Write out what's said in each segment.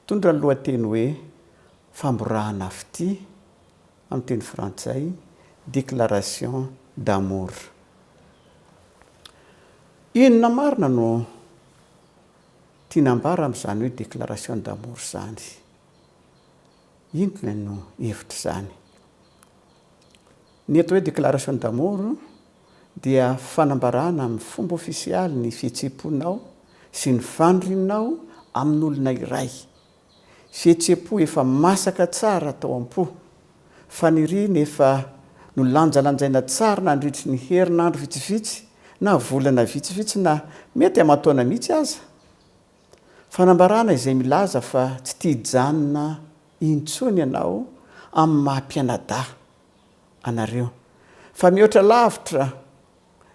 Mitondra ny lohateny hoe Famborahana Fitia, amin'ny teny frantsay, Déclaration d'amour. Inona marina no tiana ambara amin'izany hoe déclaration d'amour izany? Inona no hevitr'izany? Ny eto hoe déclaration d'amour, dia fanambarana amin'ny fomba ofisialy ny fihetseham-ponao sy ny fanirianao amin'olona iray. Fihetseham-po efa masaka tsara tao am-po, faniriana efa nolanjalanjaina tsara nandritry ny herinandro vitsivitsy na volana vitsivitsy na mety aman-taona mihitsy aza. Fanambarana izay milaza fa tsy tia hijanona intsony ianao amin'ny maha-mpianadahy. anareo. Fa mihoatra lavitra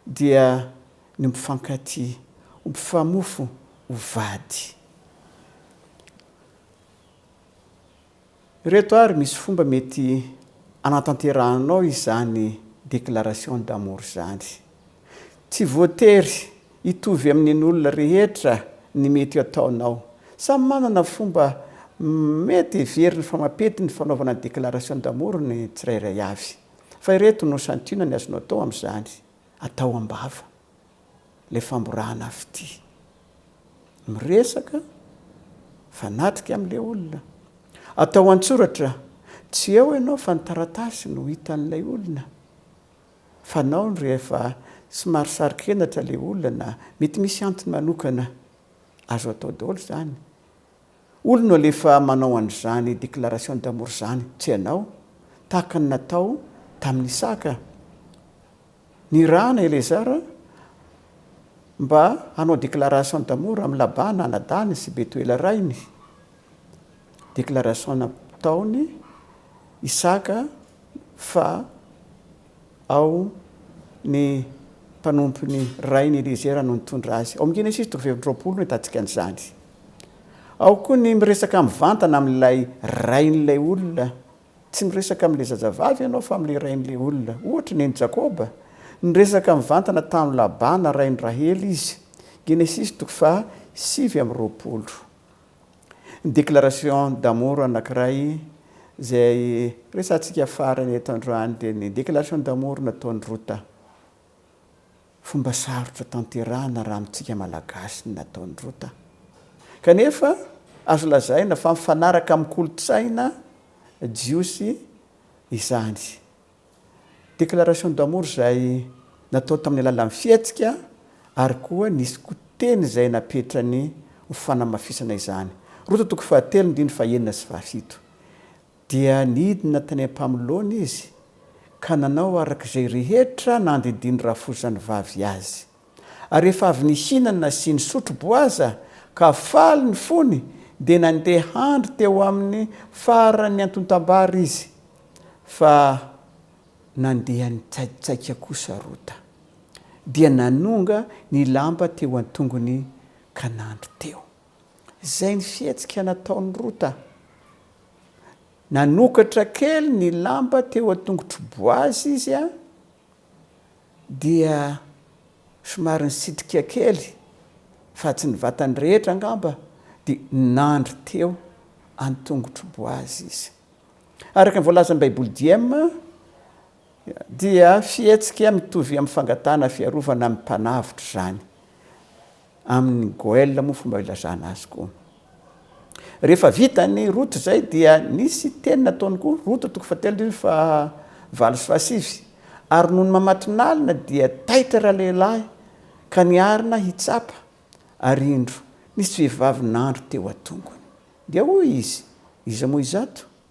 dia ny ho mpifankatia, ho mpifamofo, ho vady. Ireto ary misy fomba mety anatanterahanao izany déclaration d'amour izany. Tsy voatery hitovy amin'in'olona rehetra ny mety ataonao. Samy manana fomba mety heveriny fa mampety ny fanaovana ny déclaration d'amour ny tsirairay avy. Fa ireto no santionany azonao atao amin'izany, Atao am-bava ilay famborahana fitia. Miresaka fanatrika amin'ilay olona. Atao an-tsoratra, tsy eo ianao fa ny taratasy no hitan'ilay olona. fanaony rehefa somary saro-kenatra ilay olona na mety misy antony manokana azo atao daholo izany. Olona no alefa manao an'izany déclaration d'amour izany, tsy ianao, tahaka ny natao tamin'i Isaka. Nirahana Elezara mba hanao déclaration d'amour amin'i Labana anadahiny sy Betoela rainy. déclaration nataony Isaka fa ao ny mpanompony rainy Eliezera no nitondra azy. Ao amin'ny Genesisy toko fahefampy roapolo no ahitantsika an'izany. Ao koa ny miresaka mivantana amin'ilay rain'ilay olona. Tsy miresaka amin'ilay zazavavy ianao fa amin'ilay rain'ilay olona. Ohatra, neny Jakoba, niresaka mivantana tamin'i Labana rain'i Rahely izy. Genesisy toko faha sivy amby roapolo. Déclaration d'amour anankiray izay resahantsika farany eto androany dia ny déclaration d'amour nataon'i Rota. Fomba sarotra tanterahina raha amintsika Malagasy ny nataon'i Rota. Kanefa azo lazaina fa mifanaraka amin'ny kolontsaina jiosy izany. Déclaration d'amour izay natao tamin'ny alalan'ny fihetsika ary koa nisy koa teny izay napetrany ho fanamafisana izany. Roto toko fahatelo ndiny fahenina sy fahafito. Dia nidina tany am-pamoloana izy ka nanao araka izay rehetra nandindiny rafozan'ny vavy azy. Ary rehefa avy nihinana sy nisotro boaza ka faly ny fony, dia nandeha handry teo amin'ny faran'ny antontam-bary izy, fa nandeha nitsaikitsaika kosa Rota, dia nanonga ny lamba teo an-tongony ka nandry teo. Izay ny fihetsika nataon'i Rota. Nanokatra kely ny lamba teo an-tongotry Boazy izy. dia somary nisitrika kely fa tsy ny vatany rehetra angamba dia nandry teo an-tongotro boazy izy. Araka ny voalazan'ny Baiboly Diem dia fihetsika mitovy amin'ny fangatahana fiarovana amin'ny mpanavotra izany. Amin'ny goel moa fomba ilazana azy koa. Rehefa vita ny route zay dia nisy teny nataony koa, route toko fahatelo ndrindra ny fahavalo sy fahasivy, ary nony mamatonalina dia taitra ralehilahy ka niarina hitsapa, ary indro, nisy vehivavy nandro teo atongony. Dia hoy izy, iza moa izato?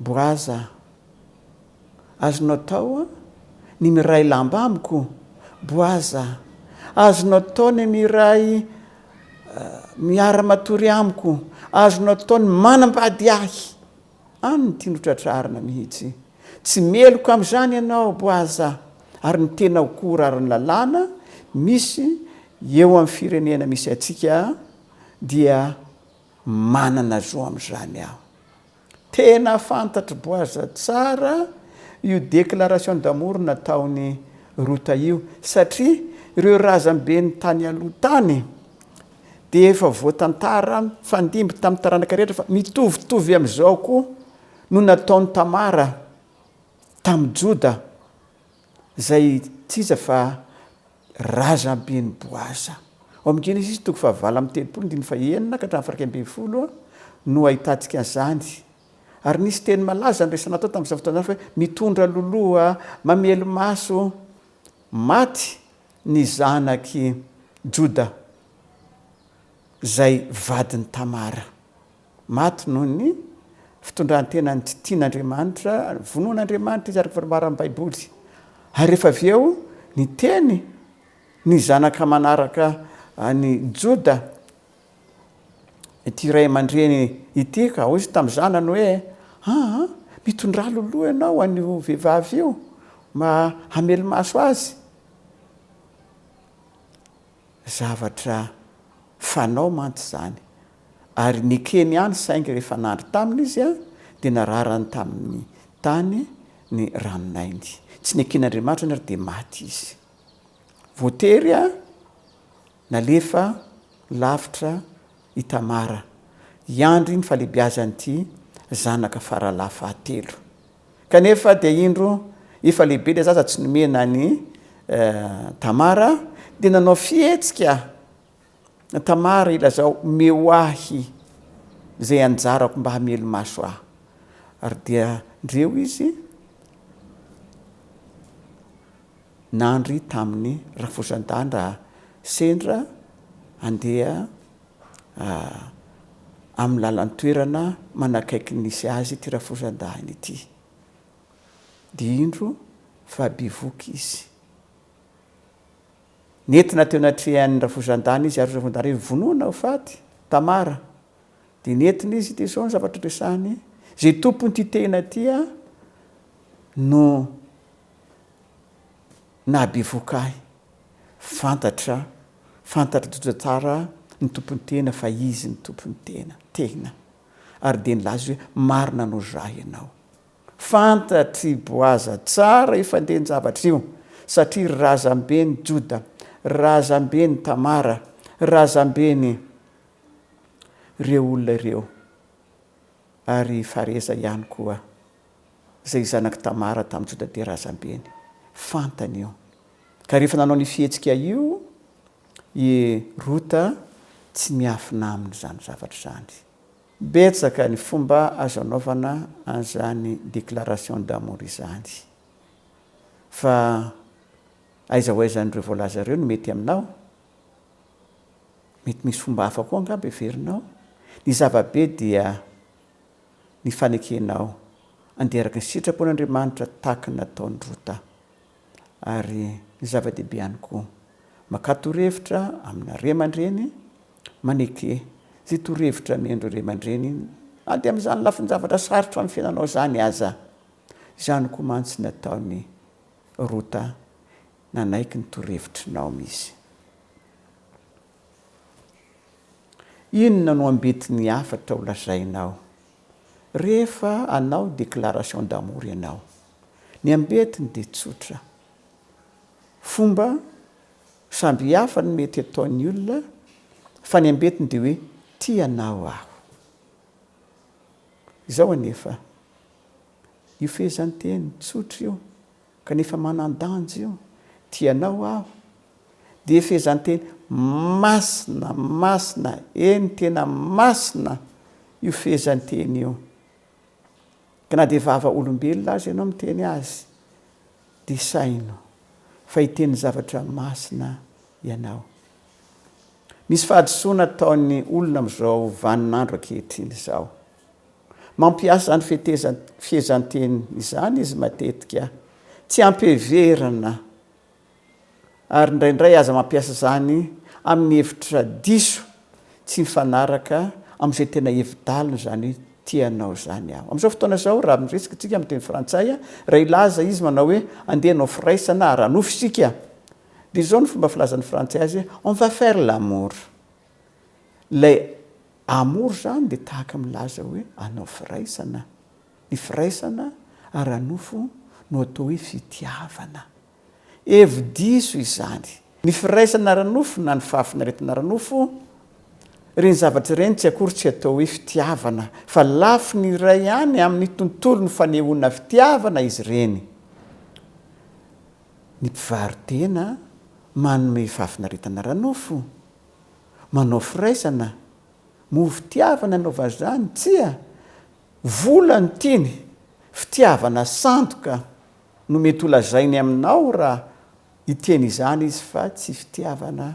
Boraza, Azonao atao ny miray lamba amiko? Boaza, Azonao atao ny miray miara-matory amiko? Azonao atao ny manambady ahy? Any ny tiany hotratrarina mihitsy. Tsy meloka amin'izany ianao Boaza, ary ny tenao koa horaron'ny lalàna misy eo amin'ny firenena misy antsika dia Manana zo amin'izany aho. Tena fantatr'i Boaza tsara io déclaration d'amour nataon'i Rota io, satria ireo razamben'ny tany aloha tany dia efa voatantara mifandimby tamin'ny taranaka rehetra fa mitovitovy amin'izao koa no nataon'i Tamara tamin'i Joda, izay tsy iza fa Razamben'i Boaza. Ao amin'ny Genesisy toko fahavalo amby telopolo, andininy fahenina ka hatramin'ny faraika ambin'ny folo no ahitantsika an'izany. Ary nisy teny malaza niraisana tao tamin'izany fotoana izany fa hoe mitondra loloha, mamely maso, maty ny zanak'i Joda izay vadin'i Tamara. Maty noho ny fitondran-tenany tsy tian'Andriamanitra, vonoin'Andriamanitra izy araka ny fanambaran'ny Baiboly. Ary rehefa avy eo, niteny ny zanaka manaraka an'i Joda ity ray aman-dreny ity ka. Hoy izy tamin'ny zanany hoe, Aa, mitondrà loloha ianao an'io vehivavy io mba hamelo-maso azy. Zavatra fanao mantsy izany, ary nekeny ihany saingy rehefa nandry taminy izy dia nararany tamin'ny tany ny ranon'ainy. Tsy neken'Andriamanitra ny ary dia maty izy. Voatery nalefa lavitra i Tamara hiandry ny fahalebiazan'ity zanaka faralahy fahatelo. Kanefa dia indro efa lehibe ilay zaza tsy nomena an'i Tamara dia nanao fihetsika Tamara ilazao omeo ahy izay anjarako mba hamelo-maso ahy. Ary dia ndreo izy. nandry tamin'ny rafozan-danda sendra handeha amin'ny lalan-toerana manakaiky ny nisy azy ity rafozan-dahiny ity. Dia indro fa bevohoka izy. Nentina teo anatrehan'ny rafozan-dahiny izy ary rafozan-dahiny hoe, Vonoina ho faty, Tamara. Dia nentina izy, dia izao ny zavatra resahiny, Izay tompon'ity tehina ity aho no Nahabevoka ahy. Fantatra, fantatr'i Jojo tsara ny tompon'ny tena fa izy ny tompon'ny tena. Tena. Ary dia nilaza izy hoe, Marina no zah ianao. Fantatr'i Boaza tsara io fandehan-javatra io, satria razamben'i Joda, razamben'i Tamara, razamben'ireo olona ireo, ary Fareza ihany koa. izay zanak'i Tamara tamin'i Jodabe razambeny. Fantany io. Ka rehefa nanao ny fihetsika io i Rota, tsy miafina aminy izany zavatra izany. Betsaka ny fomba azo anaovana an'izany déclaration d'amour izany. Fa aiza ho aiza an'ireo voalaza ireo no mety aminao? Mety misy fomba hafa koa angamba heverinao? Ny zava-be dia ny fanekenao andeha araka ny sitrapon'Andriamanitra tahaka ny nataon'i Rota. Ary ny zava-dehibe ihany koa, makà torohevitra amina ray aman-dreny, maneke izay torohevitra amian'ireo ray aman-dreny na dia amin'izany lafin-javatra sarotra amin'ny fiainanao izany aza. Izany koa mantsy nataon'i Rota, nanaiky ny torohevitry Naomy izy. Inona no ambitin'ny hafatra ho lazainao rehefa hanao déclaration d'amour ianao? Ny ambetiny dia tsotra. Fomba samy hafa no mety ataon'ny olona fa ny ambetiny dia hoe tia anao aho. Izao anefa, io fehezanteny tsotra io Kanefa manan-danja io. Tia anao aho. Dia fehezanteny masina, masina, eny tena masina io fehezanteny io. Ka na dia vava olombelona aza ianao miteny azy dia saino fa hiteny zavatra masina ianao. Misy fahadisoana ataon'ny olona amin'izao vanin'andro ankehitriny izao. Mampiasa ny fehezanteny izany izy matetika, tsy ampy heverina, ary indraindray aza mampiasa izany amin'ny hevitra diso, tsy mifanaraka amin'izay tena hevi-daliny izany hoe tia anao izany aho. Amin'izao fotoana izao, raha miresaka isika amin'ny teny frantsay, raha hilaza izy manao hoe andeha hanao firaisana, ara-nofo isika, dia izao no fomba filazan'ny frantsay azy hoe on va faire l'amour. Ilay Amour izany dia tahaka milaza hoe hanao firaisana. Ny firaisana ara-nofo no atao hoe fitiavana. Hevi-diso izany. Ny firaisana ara-nofo na ny fahafinaretana ara-nofo, ireny zavatra ireny tsy akory tsy atao hoe fitiavana fa lafiny iray ihany amin'ny tontolon'ny fanehoana fitiavana izy ireny. Ny mpivaro-tena manome fahafinaretana ara-nofo Manao firaisana? Moa fitiavana no vazany? Tsia! Vola no tiany, fitiavana sandoka no mety ho lazainy aminao raha hiteny izany izy fa tsy fitiavana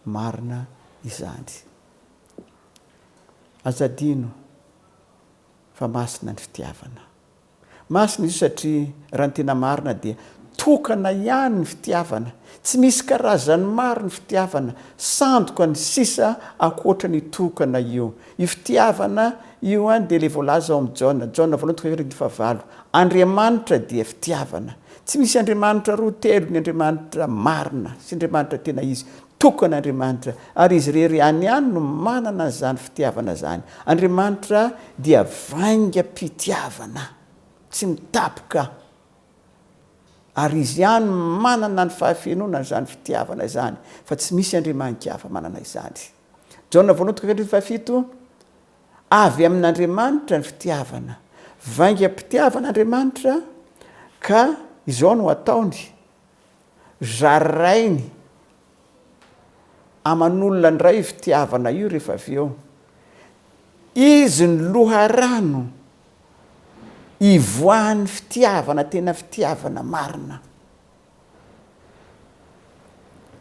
marina izany. Aza adino fa masina ny fitiavana. Masina izy io satria raha ny tena marina dia tokana ihany ny fitiavana, tsy misy karazany maro ny fitiavana, sandoka ny sisa ankoatra ny tokana io. Io fitiavana io dia ilay voalaza ao amin'ny Jaona, Jaona voalohany toko fahaefatra andininy fahavalo, Andriamanitra dia fitiavana. Tsy misy Andriamanitra roa, telo ny Andriamanitra marina sy Andriamanitra tena izy, Toko an'Andriamanitra, ary izy irery ihany ihany no manana an'izany fitiavana izany. Andriamanitra dia vaingam-pitiavana tsy mitapoka, ary izy ihany manana ny fahafenoana an'izany fitiavana izany, fa tsy misy andriamanin-kafa manana izany. Jaona voalohany toko fahatelo fahafito, Avy amin'Andriamanitra ny fitiavana. Vaingam-pitiavana Andriamanitra, ka izao no ataony. Zarainy aman'olona ndray io fitiavana io rehefa avy eo izy ny loharano ivoahan'ny fitiavana tena fitiavana marina.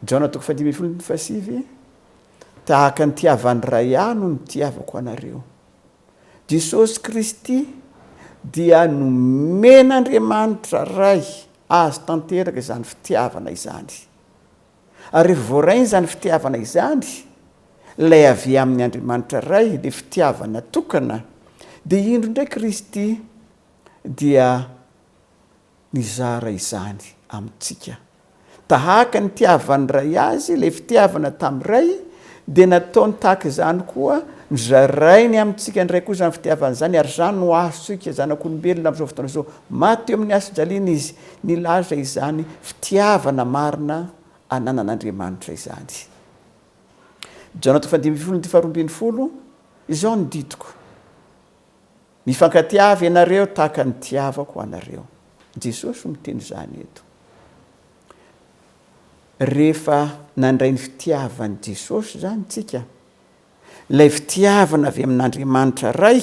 Jaona toko fahadimy ambin'ny folo andininy fahasivy, Tahaka ny tiavan'ny Ray ahy no nitiavako anareo. Jesosy Kristy dia nomen'Andriamanitra Ray azy tanteraka izany fitiavana izany. Ary rehefa voarainy izany fitiavana izany, ilay avy amin'ny Andriamanitra Ray, ilay fitiavana tokana, dia indro indray Kristy dia mizara izany amintsika. Tahaka ny nitiavan'ny Ray Azy ilay fitiavana tamin'ny Ray, dia nataony tahaka izany koa, nozarainy amintsika indray koa izany fitiavana izany, ary izany no azontsika zanak'olombelona amin'izao fotoana izao. Maty teo amin'ny hason-jaliana Izy, nilaza izany fitiavana marina ananan'Andriamanitra izany. Jaona toko faha dimy ambin'ny folo, ny dika faharoa ambin'ny folo, Izao no didiko. Mifankatia avy ianareo tahaka ny tiavako anareo. Jesosy no miteny izany eto. Rehefa nandray ny fitiavan'i Jesosy izany tsika, ilay fitiavana avy amin'Andriamanitra Ray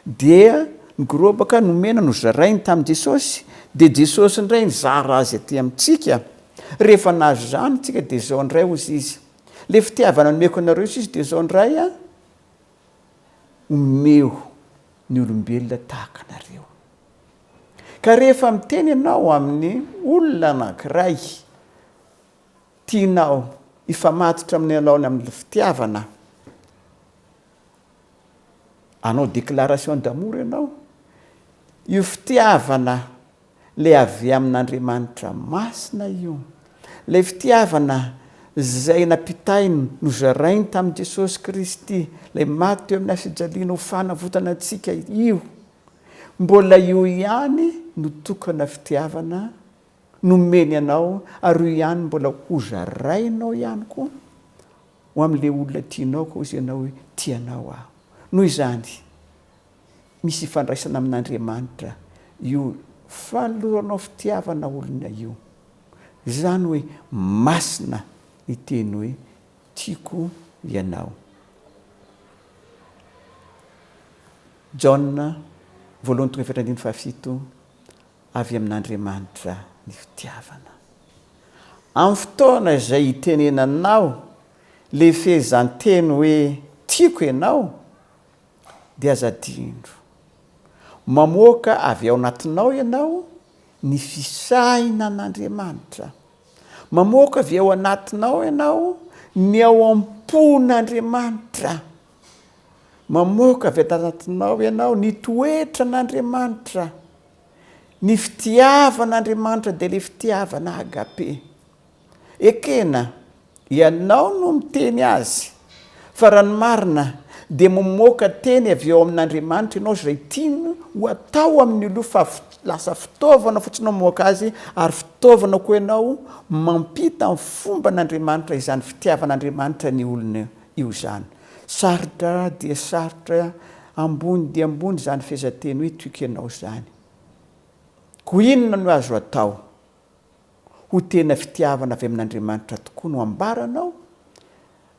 dia nigorobaka, nomena, nozarainy tamin'i Jesosy, dia Jesosy indray nizara azy aty amintsika. Rehefa nahazo izany tsika dia izao indray hozy Izy, ilay fitiavana nomeko anareo Izy dia izao indray an! omeo ny olombelona tahaka anareo. Ka rehefa miteny ianao amin'ny olona anankiray tianao hifamatotra amin'ny alaony amin'ny fitiavana, hanao déclaration d'amour ianao, io fitiavana le avy amin'Andriamanitra masina io. Ilay fitiavana izay nampitainy nozarainy tamin'i Jesosy Kristy, ilay maty teo amin'ny hafijaliana ho fanavotana antsika io, mbola io ihany no tokana fitiavana nomeny anao ary io ihany mbola hozarainao ihany koa ho amin'ilay olona tianao koa hoy izy ianao hoe tianao aho. Noho izany, misy ifandraisana amin'Andriamanitra io fanoloranao fitiavana olona io. Izany hoe masina ny teny hoe tiako ianao. Jaona voalohany toko efatra andininy fahafito, avy amin'Andriamanitra ny fitiavana. Amin'ny fotoana izay hitenenanao le fehezanteny hoe tiako ianao Dia aza adino. Mamoaka avy ao anatinao ianao ny fisainan'Andriamanitra. Mamoaka avy ao anatinao ianao ny ao am-pon'Andriamanitra. Mamoaka avy ato anatinao ianao ny toetran'Andriamanitra. Ny fitiavan'Andriamanitra dia ilay fitiavana agape. Ekena, ianao no miteny azy, fa raha ny marina dia mamoaka teny avy ao amin'Andriamanitra ianao izay tiany ho atao amin'ny olona fa lasa fitaovana fotsiny mamoaka azy ary fitaovana koa ianao mampita ny fomban'Andriamanitra izany fitiavan'Andriamanitra ny olona io izany. Sarotra dia sarotra ambony dia ambony izany fehezanteny hoe tiko ianao izany. Koa inona no azo atao? ho tena fitiavana avy amin'Andriamanitra tokoa no ambaranao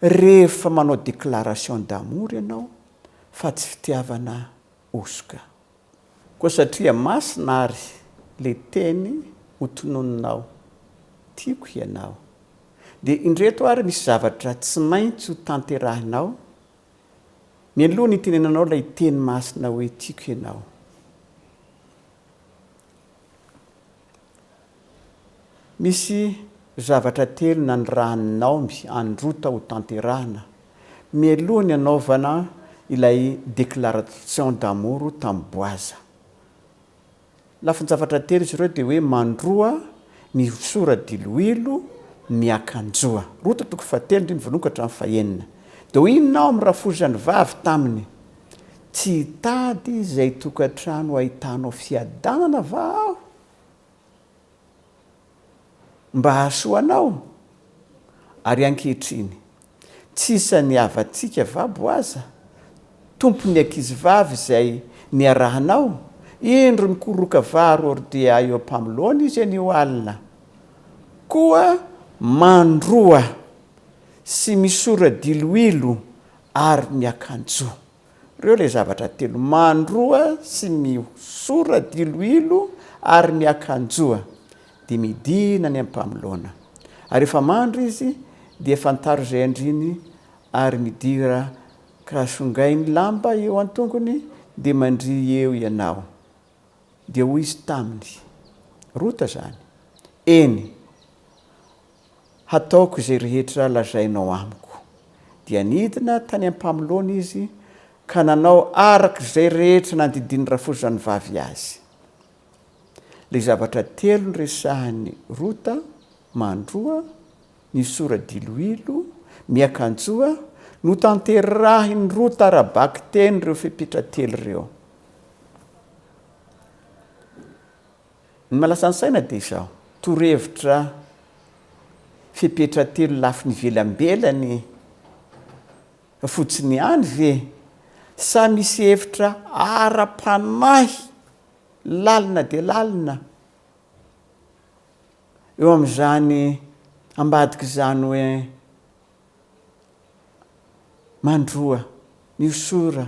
rehefa manao déclaration d'amour ianao fa tsy fitiavana hosoka. Koa satria masina ary le teny ho tononinao, tiako hianao, dia indreto ary misy zavatra tsy maintsy ho tanterahinao mialoha ny hitenenanao ilay teny masina hoe tiako ianao. Misy zavatra telo nanirahan'i Naomy an'i Rota ho tanterahina mialoha ny hanaovana ilay déclaration d'amour tamin'i Boaza. Lafin-javatra telo izy ireo dia hoe mandroa, mihosora diloilo, miakanjoa. Rota toko fahatelo andininy voalohany ka hatramin'ny fahenina. Dia hoy i Naomy rafozany vavy taminy, Tsy hitady izay tokantrano ahitanao fiadanana va aho mba hahasoa anao? Ary ankehitriny, tsy isan'ny havantsika va Boaza, tompon'ny ankizivavy izay niarahanao? Indro nikoroka vary hordea eo am-pamoloany izy anio alina, koa mandroa sy misora diloilo ary ny akanjo. Reo le zavatra telo, mandroa sy mihosora diloilo ary miakanjoa de midina any ampamoloana. Ary refa mandro izy dia fantaro zay andriny ary midira ka songay ny lamba eo antongony de mandri eo ianao. Dia hoy izy taminy, Rota zany? Eny. Hataoko izay rehetra lazainao amiko. Dia nidina tany am-pamoloany izy ka nanao araka izay rehetra nandidian'ny rafozanvavy azy. Ilay zavatra telo noresahin'i Rota, mandroa, misora diloilo, miakanjoa, notanterahin'i Rota ara-bakiteny ireo fepetra telo ireo. Ny malasan-tsaina dia izao, torohevitra fepetra telo lafiny ivelambelany fotsiny ihany ve sa misy hevitra ara-panahy lalina dia lalina eo amin'izany ambadik'izany hoe mandroa, miosora,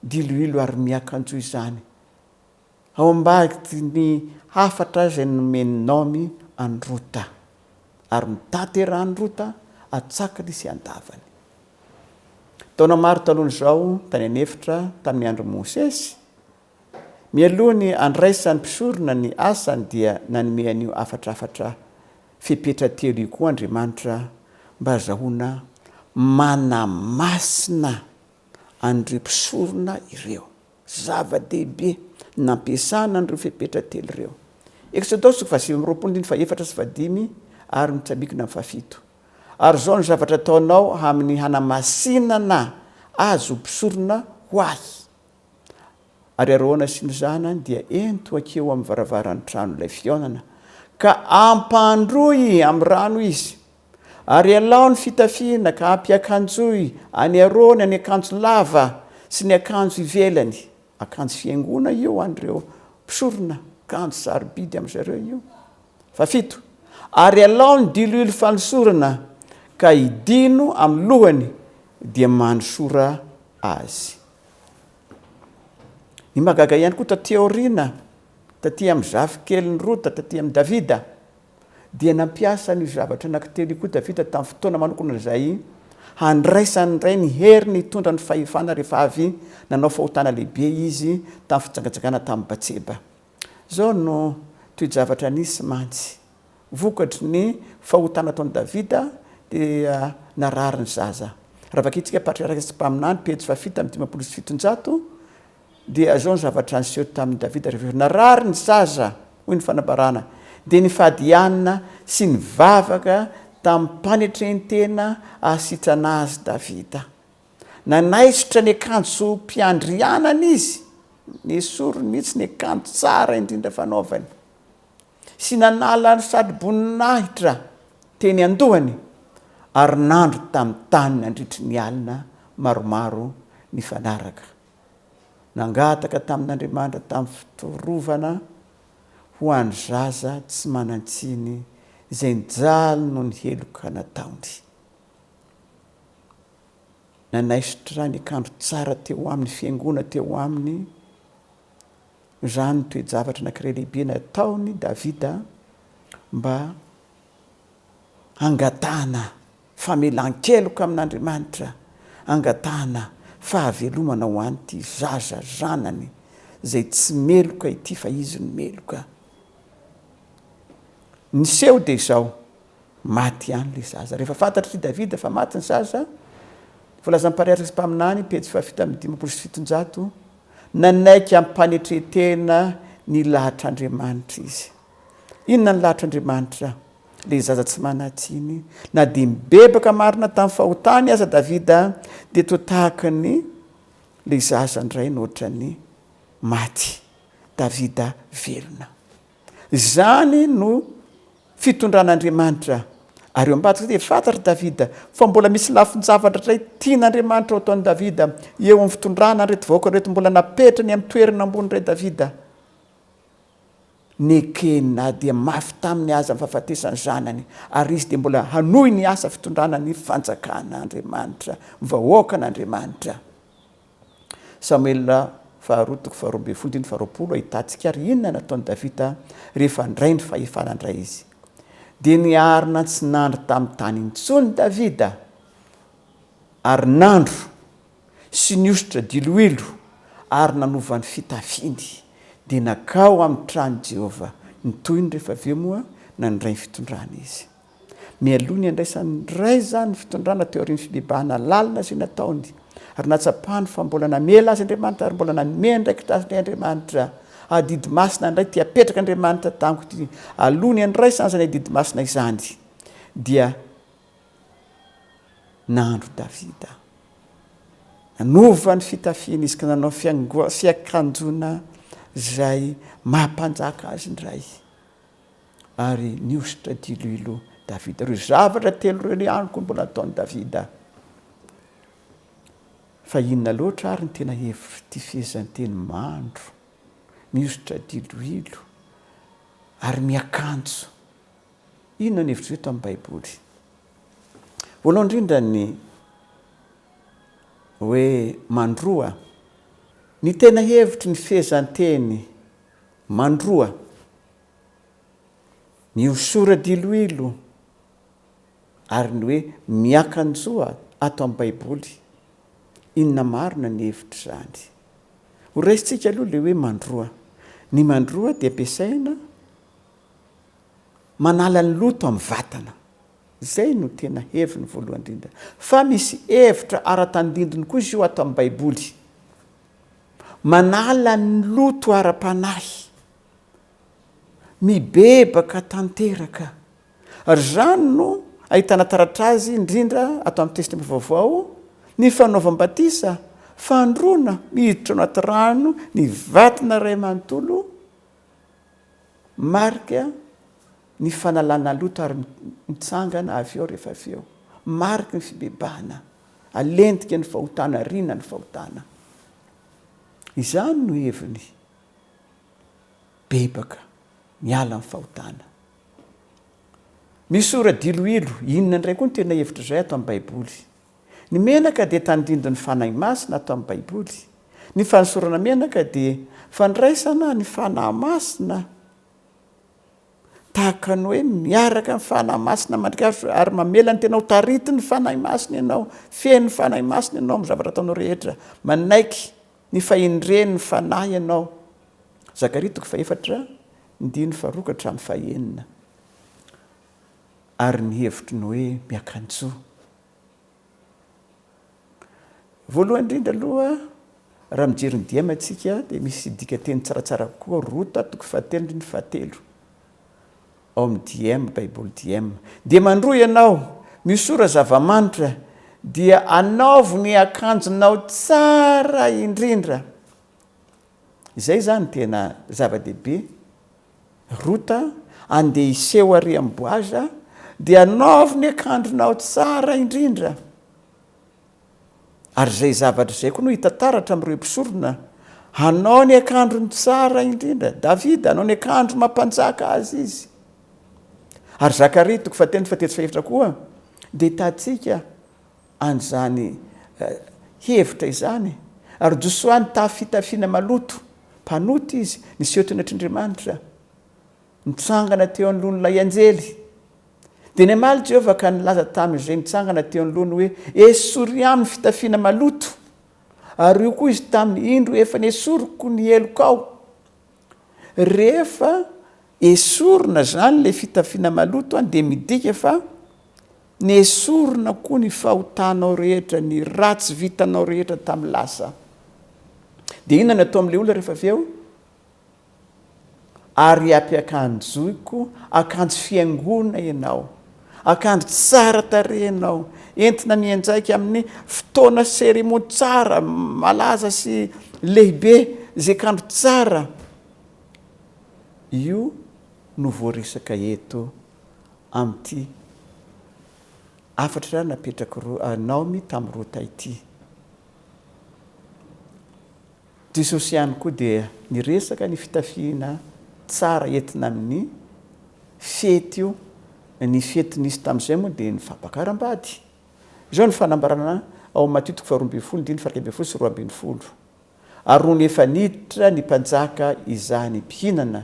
diloilo ary miakanjo izany? Ao ambadik'iny hafatra izay nomen'i Naomy an'i Rota, ary notaterahan'i Rota an-tsakany sy an-davany. Taona maro talohan'izao, tany an'efitra tamin'ny andron'i Mosesy, mialoha ny handraisan'ny mpisorona ny asany dia nanome an'io hafatrafatra fepetra telo io koa Andriamanitra mba hazahoana mana masina an'ireo mpisorona ireo. Zava-dehibe nampiasana an'ireo fepetra telo ireo. Eksodosy fahasivy amby roapolo andininy fahefatra sy fahadimy ary mitsambikina amin'ny fahafito. Ary izao no zavatra ataonao amin'ny hanamasinana azy ho mpisorona ho Ahy, Ary Arona sy ny zanany dia ento hankeo amin'ny varavaran'ny tranon'ilay fihaonana, ka ampandroy amin'ny rano izy, Ary alao ny fitafiana ka ampiakanjoy any aroana ny akanjo lava sy ny akanjo ivelany, akanjo fihaingoana io ho an'ireo mpisorona, akanjo sarobidy amin-dry zareo io. Fahafito, Ary alao ny diloilo fanosorana ka hidino amin'ny lohany dia manosora azy. Ny mahagaga ihany koa taty aoriana, taty amin'ny zafikelin'i Rota, taty amin'i Davida, dia nampiasa an'io zavatra anankitelo io koa Davida tamin'ny fotoana manokana izay handraisany indray ny heriny hitondra ny fahefana rehefa avy nanao fahotana lehibe izy tamin'ny fijangajangana tamin'i Batseba. Izao no toe-javatra nisy mantsy. Vokatry ny fahotana ataon'i Davida dia narary ny zaza. Raha vakintsika Patriaraka sy Mpaminany, pejy fahafito amby dimampolo sy fitonjato, Dia izao ny zavatra niseho tamin'i Davida rehefa narary ny zaza, hoy ny fanambarana, dia nifadianina sy nivavaka tamim-panetren-tena hahasitrana azy Davida. Nanaisotra ny akanjom-piandrianany izy, nesoriny mihitsy ny akanjo tsara indrindra fanaovany, sy nanala ny satroboninahitra teny an-dohany, ary nandro tamin'ny tany nandritry ny alina maromaro nifanaraka. nangataka tamin'Andriamanitra tamin'ny fitorovana ho an'ny zaza tsy manan-tsiny izay nijaly noho ny heloka nataony. Nanaisotra nikandro tsara teo amin'ny fiangoana teo aminy, noho izany ny toe-javatra anankiray lehibe nataon'i Davida mba hangatahana Famelan-keloka amin'Andriamanitra angatahana fahavelomana ho an'ity zaza zanany izay tsy meloka ity fa izy no meloka. Ny seho dia izao, maty ihany ilay zaza. Rehefa fantatr'i Davida fa maty ny zaza, voalazan'ny Mpariatrika sy Mpaminany, pejy fahafito amby dimampolo sy fitonjato, nanaiky hampanetren-tena ny lahatr'Andriamanitra izy. Inona ny lahatr'Andriamanitra? Ilay zaza tsy manan-tsiny. Na dia nibebaka marina tamin'ny fahotany aza Davida, dia toa tahaka ny ilay zaza indray no ohatran'ny maty, Davida velona. Izany no fitondran'Andriamanitra. Ary eo ambadika dia fantatr'i Davida fa mbola misy lafin-javatra iray tian'Andriamanitra ho ataon'i Davida eo amin'ny fitondrana an'ireto vahoaka ireto mbola napetrany amin'ny toerana ambony indray Davida. Nekena dia mafy taminy aza ny fahafatesan'ny zanany, ary izy dia mbola hanohy ny asa fitondrana ny fanjakan'Andriamanitra, ny vahoakan'Andriamanitra. Samoela faharoa toko faharoa ambin'ny folo andininy faharoapolo Ahitantsika ary inona no nataon'i Davida rehefa handray ny fahefana indray izy. Dia niarina tsy nandry tamin'ny tany intsony Davida, ary nandro. sy ny hosotra diloilo ary nanova ny fitafiany, dia nankao ao amin'ny tranon'i Jehovah ny tohiny rehefa avy eo moa nandray ny fitondrana izy. Mialoha ny handraisan'ny Ray izany ny fitondrana teo aorian'ny fibebahana lalina izay nataony, ary nahatsapany fa mbola namela azy Andriamanitra ary mbola nanome andraikitra azy indray Andriamanitra. Adidy masina indray ity apetrak'Andriamanitra tamiko ity, aloha ny handraisany izany adidy masina izany dia Nahandro Davida. Nanova ny fitafiany izy ka nanao fiakanjona izay maha mpanjaka azy indray. Ary nihosotra diloilo Davida. Ireo zavatra telo ireo ihany koa mbola nataon'i Davida. Fa inona loatra ary ny tena hevitr'ity fehezanteny mandro, mihosotra diloilo ary miakanjo Inona no hevitr'ireo tamin'ny Baiboly? Voalohany indrindra ny hoe mandroa. Ny tena hevitry ny fehezanteny mandroa, mihosora diloilo, ary ny hoe miakanjoa ato amin'ny Baiboly, inona marina ny hevitr'izany? Horaisintsika aloha ilay hoe mandroa. Ny mandroa dia ampiasaina. manala ny loto amin'ny vatana. Izay no tena heviny voalohany indrindra. Fa misy hevitra ara-tandindony koa izy io ato amin'ny Baiboly. Manala ny loto ara-panahy. Mibebaka tanteraka. Ary izany no ahitana taratra azy indrindra ato amin'ny Testamenta Vaovao, ny fanaovam-batisa, fandroana, miditra ao anaty rano ny vatana iray manontolo, Marc a, ny fanalana loto ary mitsangana avy eo rehefa avy eo. Mariky ny fibebahana, alentika ny fahotana, ariana ny fahotana. Izany no heviny. Bebaka, miala amin'ny fahotana. Misy ora diloilo, inona indray koa no tena hevitr'izay ato amin'ny Baiboly? Ny menaka dia tandindon'ny Fanahy Masina ato amin'ny Baiboly. Ny fanosorana menaka dia fandraisana ny Fanahy Masina tahaka ny hoe miaraka amin'ny Fanahy Masina mandrikaritrao ary mamela ny tenao taritin'ny Fanahy Masina ianao, feno Fanahy Masina ianao amin'ny zavatra ataonao rehetra, manaiky ny fahendren'ny Fanahy ianao. Zakaria toko fahefatra, ndiny faharoa ka hatramin'ny fahenina. Ary ny hevitry ny hoe miakanjo. Voalohany indrindra aloha, raha mijery ny diema isika dia misy dikateny tsaratsara avokoa, Rota toko fahatelo andininy fahatelo, ao amin'ny diema, baiboly diema. Dia mandroa ianao, miosora zava-manitra, dia anaovo ny akanjonao tsara indrindra. Izay izany tena zava-dehibe. Rota, andeha hiseho ary amin'i Boaza, dia anaovy ny akanjonao tsara indrindra. Ary izay zavatra izay koa no hita taratra amin'ireo mpisorona, Hanao ny akanjony tsara indrindra. Davida, hanao ny akanjo maha-mpanjaka azy izy. Ary Zakaria, toko fahatelo, fahatelo sy fahefatra koa, dia hitantsika, any izany hevitra izany, ary Josoa nitahy fitafiana maloto, mpanota izy, niseho teny an-trondrimanitra, nitsangana teo anoloan'ilay anjely. Dia namaly Jehovah ka nilaza tamin'izay nitsangana teo anoloany hoe, Esory aminy ny fitafiana maloto. Ary hoy koa izy taminy, Indro, efa nesoriko ny helokao. Rehefa esorina izany ilay fitafiana maloto dia midika fa nesorina koa ny fahotanao rehetra, ny ratsy vitanao rehetra tamin'ny lasa. Dia inona no atao amin'ilay olona rehefa avy eo? Ary ampiakanjoiko akanjo fihaingoana ianao. Akanjo tsara tarehy ianao, entina mianjaika amin'ny fotoana seremony tsara, malaza sy lehibe izay kanjo tsara. Io no voaresaka eto amin'ity hafatra napetrak'i Naomi tamin'i Rota ity. Jesosy ihany koa dia niresaka ny fitafiana tsara entina amin'ny fety io, ny fety nisy tamin'izay moa dia ny fampakaram-bady. Izao no fanambarana ao amin'ny Matio toko faharoa ambin'ny folo diny faha iraika ambin'ny folo sy roa ambin'ny folo, Ary nony efa niditra ny mpanjaka izany mpihinana,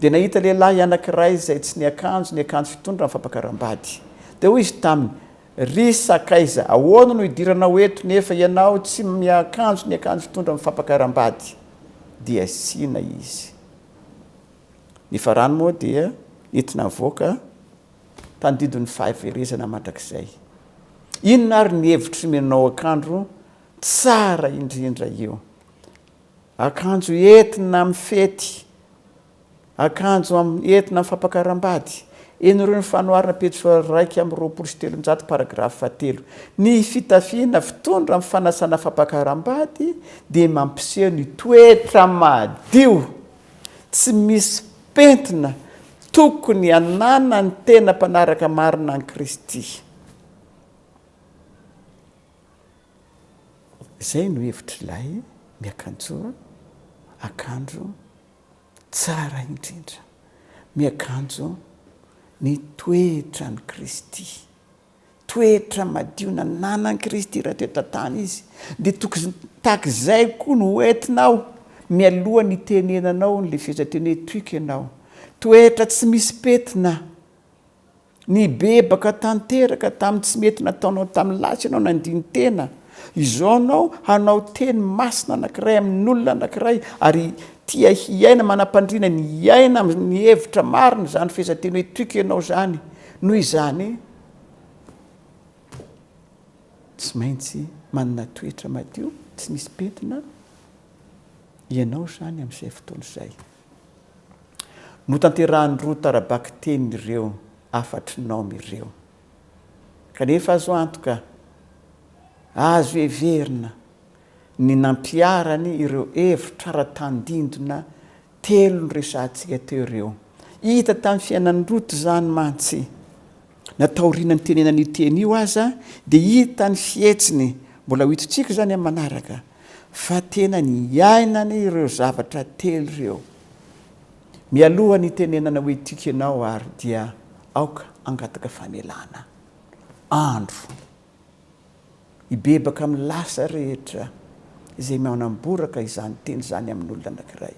dia nahita lehilahy anankiray izay tsy niakanjo ny akanjo fitondra amin'ny fampakaram-bady. Dia hoy izy taminy, Ry sakaiza, ahoana no idiranao eto nefa ianao tsy miakanjo ny akanjo fitondra amin'ny fampakaram-bady? dia asiana izy. Ny farany moa dia nentina avoaka tandindon' ny fahaverezana mandrakizay. Inona ary ny hevitry ny manao akanjo tsara indrindra io? Akanjo entina amin'ny fety Akanjo amin'ny entina amin'ny fampakaram-bady. Henorio ny fanoharana pejy faha-iraika amby roapolo sy telonjato paragrafy fahatelo. Ny fitafiana fitondra amin'ny fanasana fampakaram-bady dia mampiseho ny toetra madio, tsy misy pentina tokony hananan'ny tena mpanaraka marina an'i Kristy. Izay no hevitr'ilay miakanjoa akanjo Tsara indrindra. Miakanjo ny toetran'i Kristy. Toetra madio nananan'i Kristy raha teto an-tany izy, dia tokony tahaka izay koa no ho entinao mialoha ny hitenenanao ny lefezan-teny etoiko ianao. Toetra tsy misy petina Nibebaka tanteraka tamin'ny tsy mety nataonao tamin'ny lahy tsy ianao nandini-tena. Izao ianao hanao teny masina anankiray amin'olona anankiray ary tia hiaina manam-pandriana ny hiaina amin'ny hevitra marina izany fehezanteny hoe toiko ianao izany. Noho izany, tsy maintsy manana toetra madio, tsy misy pentina ianao izany amin'izay fotoana izay. Notanterahan'ireo tara-bakiteny ireo hafatry nom ireo. Kanefa azo antoka, azo heverina, ny nampiharany ireo hevitra ara tandindona telo noresahantsika teo ireo. Hita tamin'ny fiainan'i Ruth izany mantsy. Na taoriana nitenenana io teny io aza dia hita ny fihetsiny, mbola ho hitontsika izany amin'ny manaraka, fa tena niainany ireo zavatra telo ireo. Mialoha ny hitenenana hoe tiako ianao ary dia aoka hangataka famelana andro hibebaka amin'ny lasa rehetra izay manamboraka izany teny izany amin'olona anankiray.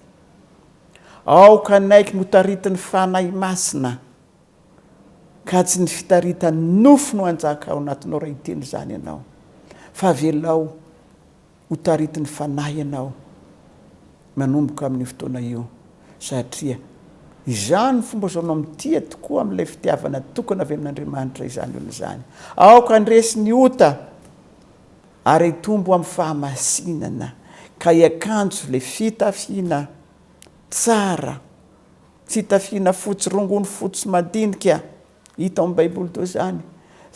Aoka hanaiky ny ho taritin'ny Fanahy Masina. ka tsy ny fitaritan nofo no hanjaka ao anatinao raha hiteny izany ianao fa avelao ho taritin ny fanahy ianao manomboka amin io fotoana io satria izany fomba fisaonao mitia tokoa amin ilay fitiavana tokana avy amin Andriamanitra izany olona izany aoka handresy ny ota ary hitombo amin fahamasinana ka hiakanjo ilay fitafiana tsara Fitafiana fotsy rongony fotsy madinika hita ao amin'ny Baiboly toa izany.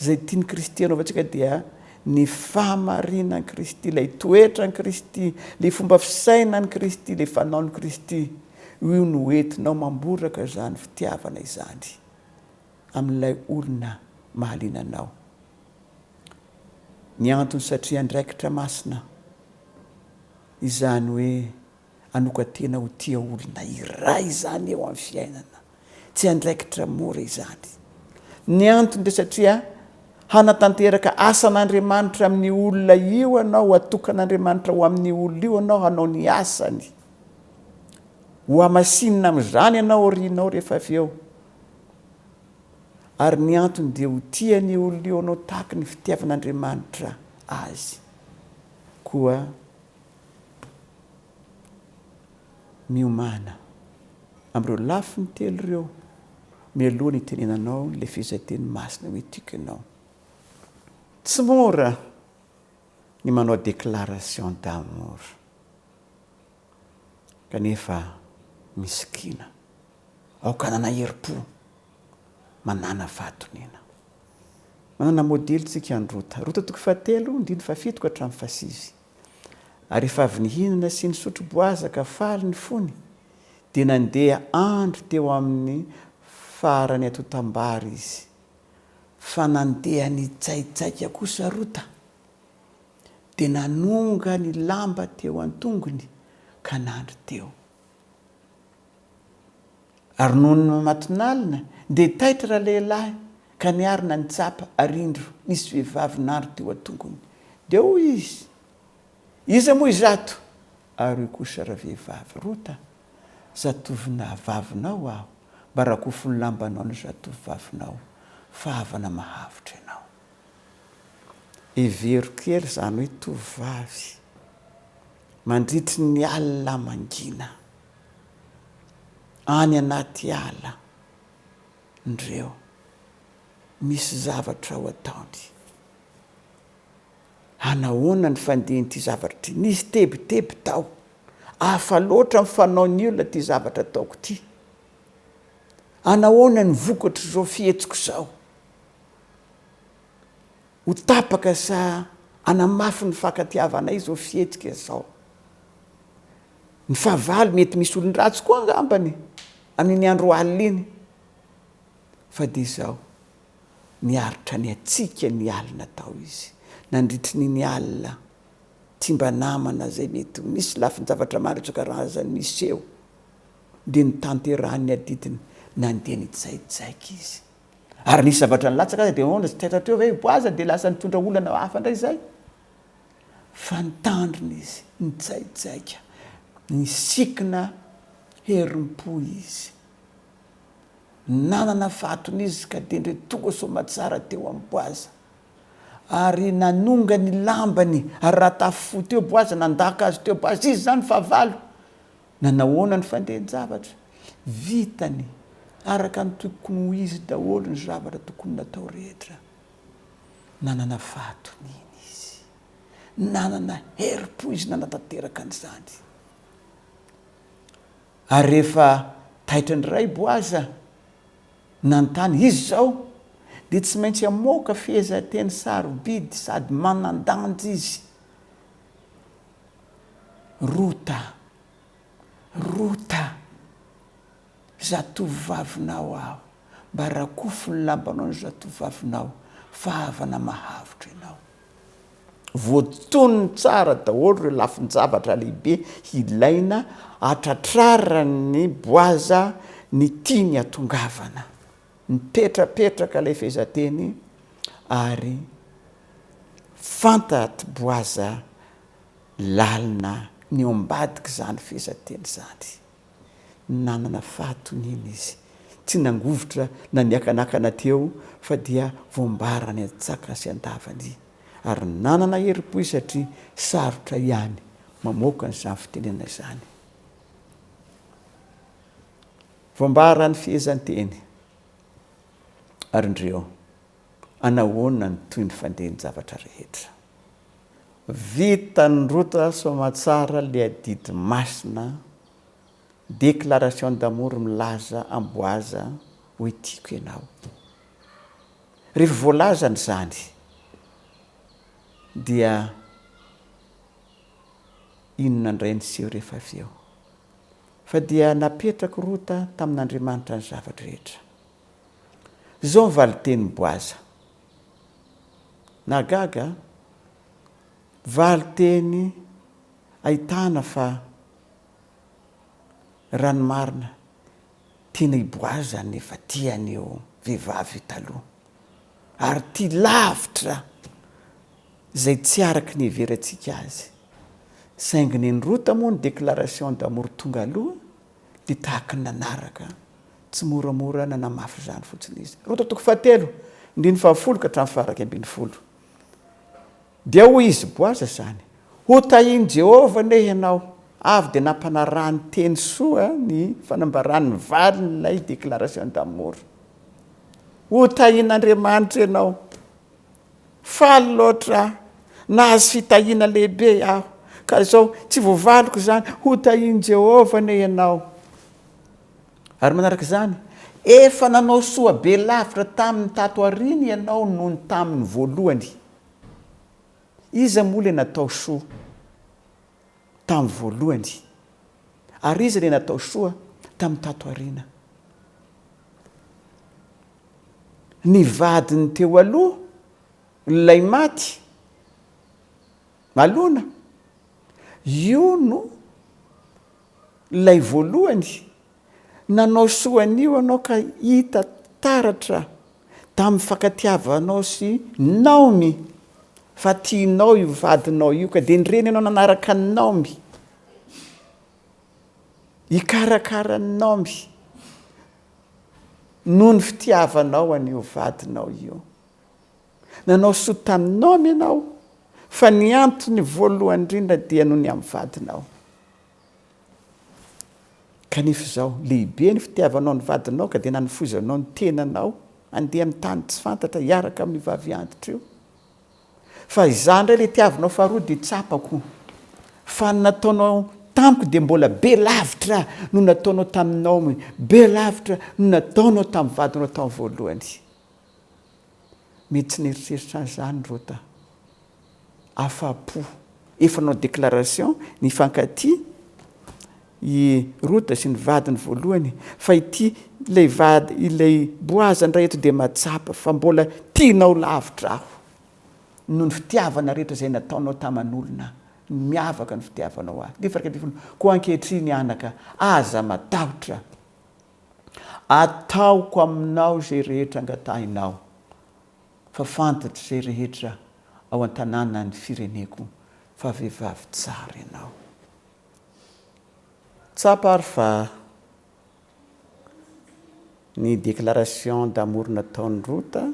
Izay tian'ny Kristy hanaovantsika dia ny fahamarinan'i Kristy, ilay toetran'i Kristy, ilay fomba fisainan'i Kristy, ilay fanaon'i Kristy. Io no hoentinao mamboraka izany fitiavana izany amin'ilay olona mahaliana anao. Ny antony satria andraikitra masina izany hoe Hanokan-tena ho tia olona iray izany eo amin'ny fiainana. Tsy andraikitra mora izany. Ny antony dia satria hanatanteraka asan'Andriamanitra amin'io olona io anao, hatokan'Andriamanitra ho amin'io olona io anao hanao ny asany. Ho hamasinina amin'izany ianao aorianao rehefa avy eo. Ary ny antony dia ho tia an'io olona io anao tahaka ny fitiavan'Andriamanitra azy. Koa Miomàna amin'ireo lafiny telo ireo mialoha ny hitenenanao ilay fehezanteny masina hoe tiako ianao. Tsy mora ny manao déclaration d'amour, kanefa misikina, aoka hanana herim-po, manàna fahatoniana. Manana modely tsika an'i Rota. Rota toko fahatelo, andininy fahafito ka hatramin'ny fahasivy. Ary rehefa avy nihinana sy nisotro boaza ka faly ny fony, dia nandeha andro teo amin'ny faran'ny atotam-bary izy. Fa nandeha nitsaitsaika kosa Rota, dia nanonga ny lamba teo an-tongony ka nandry teo. Ary nony namatonalina dia taitra ralehilahy ka niarina nitsapa ary indro nisy vehivavy nandry teo an-tongony. Dia hoy izy, Iza moa izato? Ary hoy kosa ravehivavy, Rota, zatovonahabavinao aho, mba rakofy ny lambanao ny zatovovavinao, fa havana mahavotr' ianao. Hevero kely izany hoe tovovavy mandritry ny alina mangina Any anaty ala ndreo misy zavatra ho ataony. Hanahoana ny fandihin'ity zavatra ity? Nisy tebiteby tao. Hafa loatra ny fanaon'ny olona ity zavatra ataoko ity. Hanahoana ny vokatr'izao fihetsiko izao? Ho tapaka sa hanamafy ny fankatiavanay izao fihetsika izao? Ny fahavalo mety misy olon-dratsy koa angambany e! amin'iny andro alina iny. Fa dia izao, niaritra ny hatsiaka ny alina tao izy, nandritry ny ny alina, tsy mba namana izay mety ho nisy lafin-javatra maro isan-karazany niseho. Dia notanterahin'ny adidiny, nandeha nijaijaiky izy. Ary nisy zavatra nilatsaka aza dia ahoana, tsy taitra hatreo ve i Boaza dia lasa nitondra olana hafa indray izay? Fa nitandrina izy, nijaijaika, nisikina herim-po izy. Nanana fahatony izy ka dendre tonga soamatsara teo amin'i Boaza. Ary nanonga ny lambany, ary raha tafifohy teo Boaza, nandaka azy teo Boaza, Iza izany fahavalo? Nanahoana ny fandehan-javatra? Vitany araka ny tokony ho izy daholo ny zavatra tokony natao rehetra. Nanana fahatoniana izy. Nanana herim-po izy nanatanteraka an'izany. Ary rehefa taitra indray Boaza nanontany, Izy izao dia tsy maintsy hamoaka fehezanteny sarobidy sady manan-danja izy. Rota. Rota, zatovovavinao aho, mba rakofy ny lambanao ny zatovovavinao, fa havana mahavotro ianao. Voatonony tsara daholo ireo lafin-javatra lehibe ilaina hatratraran'i Boaza ny tiany hatongavana. Nipetrapetraka ilay fehezanteny ary fantatr'i Boaza Lalina ny ao ambadik'izany fehezanteny izany. Nanana fahatoniana izy. Tsy nangovitra na niakanakana teo fa dia voambarany an-tsakany sy an-davany. Ary nanana herim-po izy satria sarotra ihany mamoaka an'izany fitenenana izany. Voambaran'ny fehezanteny ary indreo. Anahoana ny toy ny fandeha ny zavatra rehetra? Vitan'i Rota soamatsara le adidy masina déclaration d'amour milaza amboaza hoe tiako ianao. Rehefa voalazany izany dia inona indray niseho rehefa avy eo? Fa dia napetrak'i Rota tamin'Andriamanitra ny zava-drehetra. Izao ny valin-tenin'i Boaza. Nahagaga a! Valin-teny ahitana fa raha ny marina, tena i Boaza no efa tia an'io vehivavy io taloha, ary tia lavitra izay tsy araka ny iheverantsika azy. Saingy nen'i Rota moa ny déclaration d'amour tonga aloha. dia tahaka ny nanaraka, tsy moramora nanamafy izany fotsiny izy. Roa tao toko fahatelo, andininy fahafolo ka hatramin'ny faharaika ambin'ny folo. Dia hoy izy, Boaza izany, Hotahin'i Jehovah anie ianao! Avy dia nampanarahany teny soa ny fanambarany ny valin'ilay déclaration d'amour. Hotahin'Andriamanitra ianao! Faly loatra aho. Nahazo fitahiana lehibe aho, ka izao tsy voavaliko izany. Hotahian'i Jehovah anie ianao. Ary manaraka izany, efa nanao soa be lavitra taminy tato aoriana ianao noho ny taminy voalohany. Iza moa ilay natao soa? tamin'ny voalohany, ary izy ilay natao soa tamin'ny tato aoriana. Ny vadiny teo aloha, ilay maty, alona, io no Ilay voalohany, nanao soa anio anao ka hita taratra tamin'ny fankatiavanao sy Naomi fa tianao io vadinao io ka dia ny reninao nanaraka an'i Naomi hikarakara an'i Naomi noho ny fitiavanao an'io vadinao io. Nanao soa tamin'i Naomi ianao fa ny antony voalohany indrindra dia noho ny amin'ny vadinao. Kanefa izao, lehibe ny fitiavanao ny vadinao ka dia nanofoizanao ny tenanao handeha amin'ny tany tsy fantatra hiaraka amin'io vavy antitra io. Fa izaho indray ilay tiavinao faharoa dia tsapako fa ny nataonao tamiko dia mbola be lavitra no nataonao tamin'ny Naomy, be lavitra no nataonao tamin'ny vadinao tamin'ny voalohany. Mety tsy neritreritra azy zany Rota. Afa-po. Efa nanao déclaration nifankatia i Rota sy ny vadiny voalohany fa ity ilay vady ilay Boaza indray eto dia mahatsapa fa mbola tianao lavitra aho noho ny fitiavana rehetra izay nataonao taman'olona miavaka ny fitiavanao ahy. Andininy faha-iraika ambin'ny folo, koa ankehitriny anaka aza matahotra. Ataoko aminao izay rehetra angatahinao, fa fantatr'izay rehetra ao an-tanànan'ny fireneko fa vehivavy tsara ianao. Tsapa ary fa ny déclaration d'amour nataon'i Rota,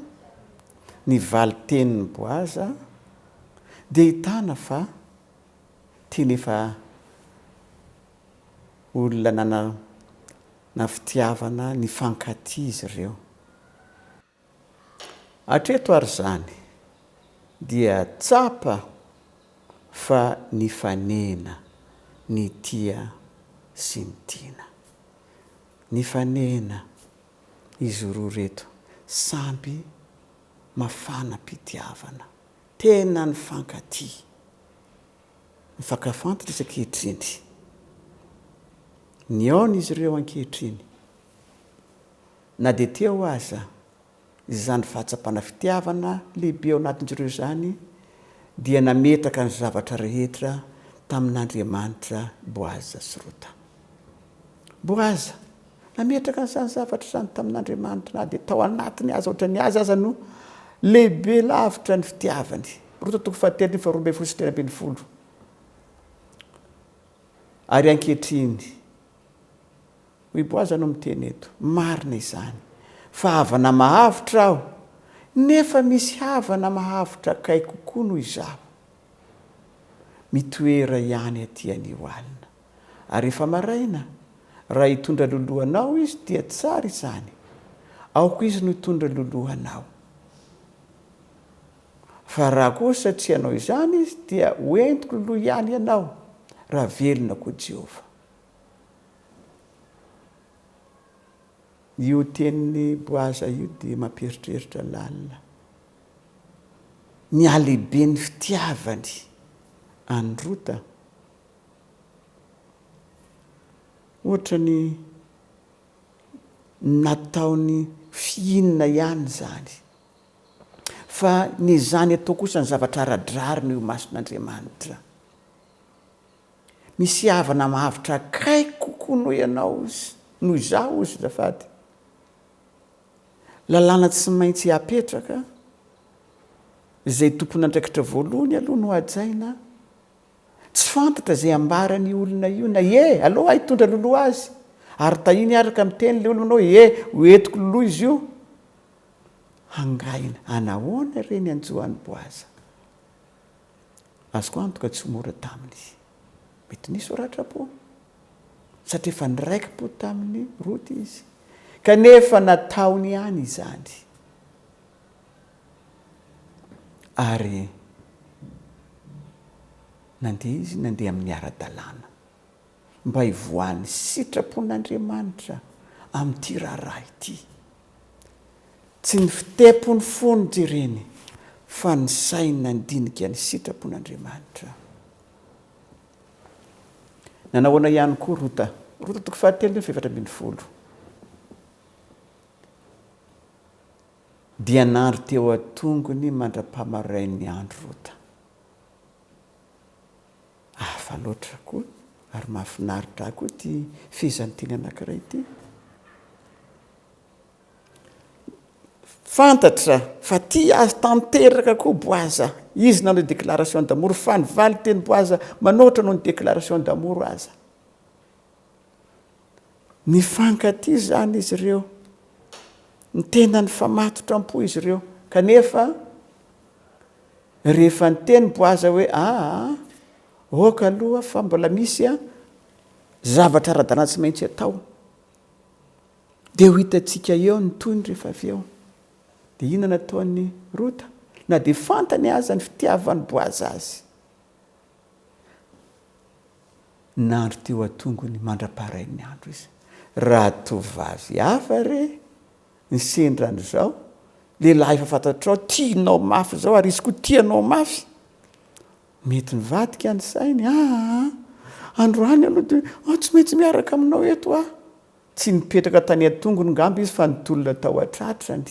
ny valin-tenin'i Boaza dia ahitana fa tena efa olona nanana fitiavana nifankatia izy ireo. Hatreto ary izany dia tsapa fa nifanena ny tia sy ny tiana. Nifanena izy roa ireto samby mafana am-pitiavana, tena nifankatia. Mifankahafa antitra izy ankehitriny. Nihaona izy ireo ankehitriny. Na dia teo aza izany fahatsapana fitiavana lehibe ao anatin-dry ireo izany, dia nametraka ny zavatra rehetra tamin'Andriamanitra Boaza sy Rota. Boaza nametraka an'izany zavatra izany tamin'Andriamanitra na dia tao anatiny aza, ohatra ny azy aza no lehibe lavitra ny fitiavany. Rota toko fahatelo ny faharoa ambin'ny folo sy telo ambin'ny folo. Ary ankehitriny, hoy Boaza no miteny eto, marina izany fa havana mahavitra aho, nefa misy havana mahavitra akaiky kokoa noho izaho mitoera ihany aty anio alina. ary rehefa maraina, raha hitondra loloha anao izy dia tsara izany, aoka izy no hitondra loloha anao. Fa raha kosa tsy hanao izany izy dia ho entiko loloha ihany ianao, raha velona koa Jehovah. Io tenin'i Boaza io dia mampieritreritra lalina ny halehiben'ny fitiavany an'i Rota. Ohatra ny nataony fihinana ihany izany. Fa ny izany atao kosa ny zavatra ara-drariny eo imason'Andriamanitra. Misy havana mahavitra akaiky kokoa noho ianao izy, noho izaho izy azafady. Lalàna tsy maintsy apetraka, izay tompon'andraikitra voalohany aloha no hajaina, Tsy fantatra izay ambaran io olona io na ie aleo aho hitondra loloha azy ary tahiny hiaraka miteny le olona hoe ie ho entiko loloha izy io hangaina anahoana re ny anjo any boaza azoko antoka tsy ho mora taminy mety nisy ho ratra po satria efa niraiki po taminy rota izy kanefa nataony ihany izany Ary nandeha izy nandeha amin'ny ara-dalàna, mba hivoahan'ny sitrapon'Andriamanitra amin'ity raharaha ity. Tsy ny fitepon'ny fo no jereny, fa ny sainy nandinika ny sitrapon'Andriamanitra. Nanao ahoana ihany koa Rota? Rota toko fahatelo, toko fahefatra ambin'ny folo. Dia nandry teo an-tongony mandra-pahamarain'ny andro rota. Hafa loatra koa ary mahafinaritra ahy koa ity fehezanteny anankiray ity. Fantatra fa tia azy tanteraka koa Boaza. Izy nanao déclaration d'amour fa ny valin-teny Boaza manoatra noho ny déclaration d'amour aza. Nifankatia izany izy ireo. Ny tenany fa matotra am-po izy ireo. Kanefa, rehefa niteny Boaza hoe, Aa, aoka aloha fa mbola misy zavatra ara-dalàna tsy maintsy atao. Dia ho hitantsika eo ny tohiny rehefa avy eo. Dia inona no nataon'i Rota? Na dia fantany aza ny fitiavan'i Boaza azy, Nandry teo an-tongony mandra-paharain'ny andro izy. Raha tovovavy hafa re ny sendra an'izao, lehilahy efa fantatrao tianao mafy izao ary izy koa tia anao mafy, mety nivadika ny sainy, aa! androany aloha dia aho tsy maintsy miaraka aminao eto aho! Tsy nipetraka tany an-tongony ngamba izy fa nitolona tao an-tratrany.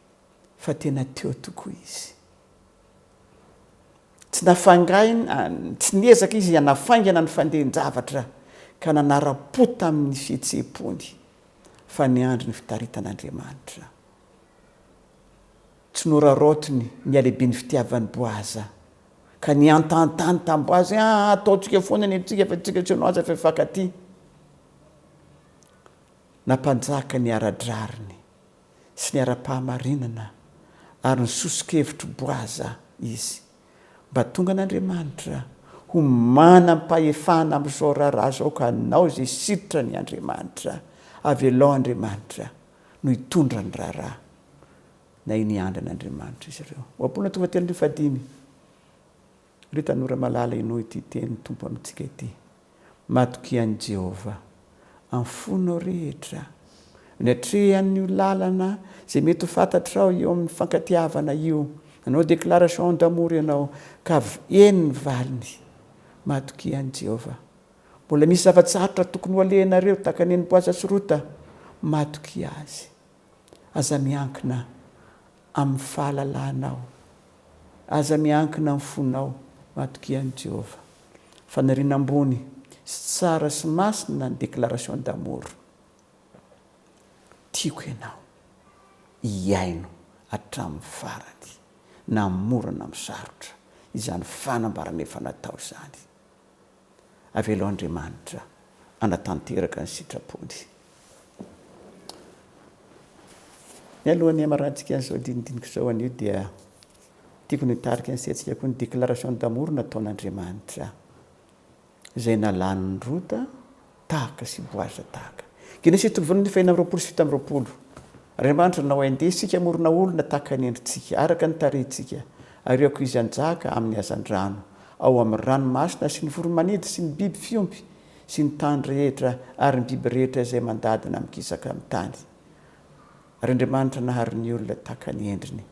fa tena teo tokoa izy. Tsy nafangaina, tsy niezaka izy hanafaingana ny fandehan-javatra ka nanara-po tamin'ny fihetseham-pony fa niandry ny fitaritan'Andriamanitra. Tsy noraraotiny ny halehiben'ny fitiavan'i Boaza ka nihantahan-tany tamin'i Boaza hoe, Aa, ataontsika foana ny antsika fa tsika tsy anao aza efa hifankatia. Nampanjaka ny ara-drariny sy ny ara-pahamarinana ary ny soso-kevitr'i Boaza izy, mba tonga an'Andriamanitra ho manam-pahefana amin'izao raharaha izao ka hanao izay sitrany Andriamanitra, avelao Andriamanitra no hitondra ny raharaha na iny andran'Andriamanitra izy ireo. Ohabolana tonga telo arivo fahadimy. Ry tanora malala henoy ity tenin'ny Tompo amintsika ity, Matokia an'i Jehovah amin'ny fonao rehetra. Ny hatrehan'io lalana izay mety ho fantatrao eo amin'ny fankatiavana io, nanao déclaration d'amour ianao ka avy eny ny valiny. Matokia an'i Jehovah. Mbola misy zava-tsarotra tokony ho alehanareo tahaka ny an'i Boaza sy Rota. Matokia azy. Aza miankina amin'ny fahalalanao. Aza miankina amin'ny fonao. Matokia an'i Jehovah. Faniriana ambony sy tsara sy masina ny déclaration d'amour. Tiako ianao. Hihaino hatramin'ny farany, na mora na misarotra, izany fanambarana efa natao izany. Avelo Andriamanitra hanatanteraka ny sitrapony. Mialoha ny hamarantsika an'izao dinidinika izao anio dia tiako ny hitarika ny saintsika koa ny déclaration d'amour nataon'Andriamanitra izay nalan'i Rota Tahaka sy Boaza tahaka. Genesy Toby voalohany fahenina amby roapolo sy fito amby roapolo Andriamanitra nanao hoe, Ndeha isika hamorona olona tahaka ny endritsika, araka ny tarehintsika, ary aoka izy hanjaka amin'ny hazandrano, ao amin'ny ranomasina sy ny voro-manidy sy ny biby fiompy sy ny tany rehetra ary ny biby rehetra izay mandady na mikisaka amin'ny tany. Ary Andriamanitra nahary ny olona tahaka ny endriny,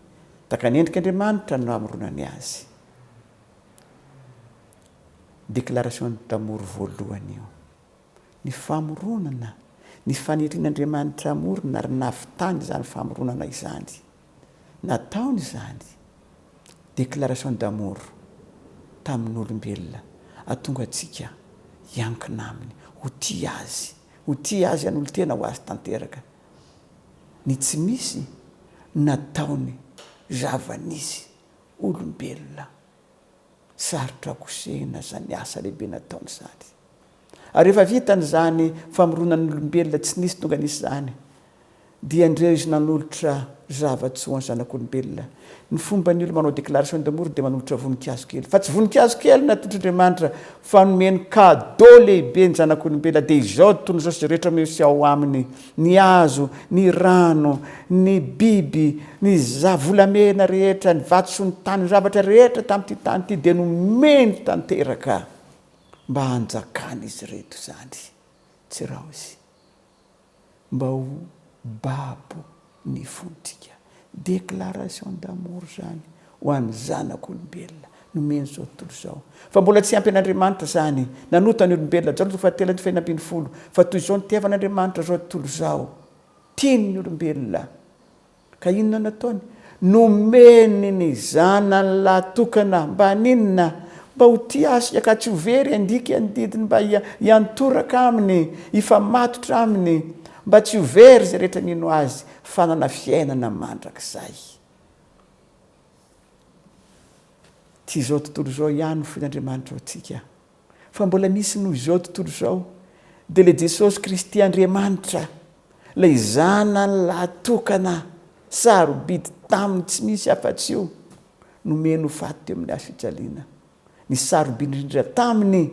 tahaka ny endrik'Andriamanitra no namoronany azy. Déclaration d'amour voalohany io. Ny famoronana, ny fanirian'Andriamanitra hamorona ary nahavitany izany famoronana izany. Nataony izany, déclaration d'amour, tamin'olombelona, hahatonga antsika hiankina Aminy, ho tia Azy, ho tia Azy hanolo-tena ho Azy tanteraka. Ny tsy misy nataony zavan'izy olombelona. Sarotra kosehina izany asa lehibe nataony izany. Ary rehefa vita an'izany famoronan'ny olombelona tsy nisy tonga nisy izany, dia ndreo izy nanolotra zava-tsy ho an'ny zanak'olombelona. Ny fomba ny olo manao déclaration de mort dia manolotra voninkazo kely, fa tsy voninkazo kely natotr'Andriamanitra fa nomeny cadeau lehibe ny zanak'olombelona dia izao tontolo izao sy izay rehetra miseho ao aminy. ny hazo, ny rano, ny biby, ny za volamena rehetra, ny vato sy ny tany, ny zavatra rehetra tamin'ity tany ity dia nomeny tanteraka mba hanjakan'izy ireto izany. Tsy raozy mba ho babo ny fontsika. Déclaration d'amour zany ho an'ny zanak' olombelona nomeny zao tontolo izao. Fa mbola tsy ampy an'Andriamanitra zany nanota ny olombelona Jaona toko fahatelo andininy fahefatra ambin'ny folo fa toy izao nitiavan'Andriamanitra zao tontolo izao, tiany ny olombelona ka inona nataony? Nomeny ny zanany lahy tokana mba haninona? Mba ho tia Azy sy ka tsy ho very handika ny didiny mba hiantoraka aminy, hifamatotra aminy, mba tsy ho very izay rehetra mino Azy. Fanana fiainana mandrakizay. Tsy izao tontolo izao ihany no fon'Andriamanitra ho antsika, fa mbola misy noho izao tontolo izao, dia ilay Jesosy Kristy Andriamanitra, ilay Zanany lahatokana, sarobidy taminy tsy misy afa-tsy io, nomeny ho faty teo amin'ny hazo fijaliana. Ny sarobidy indrindra taminy,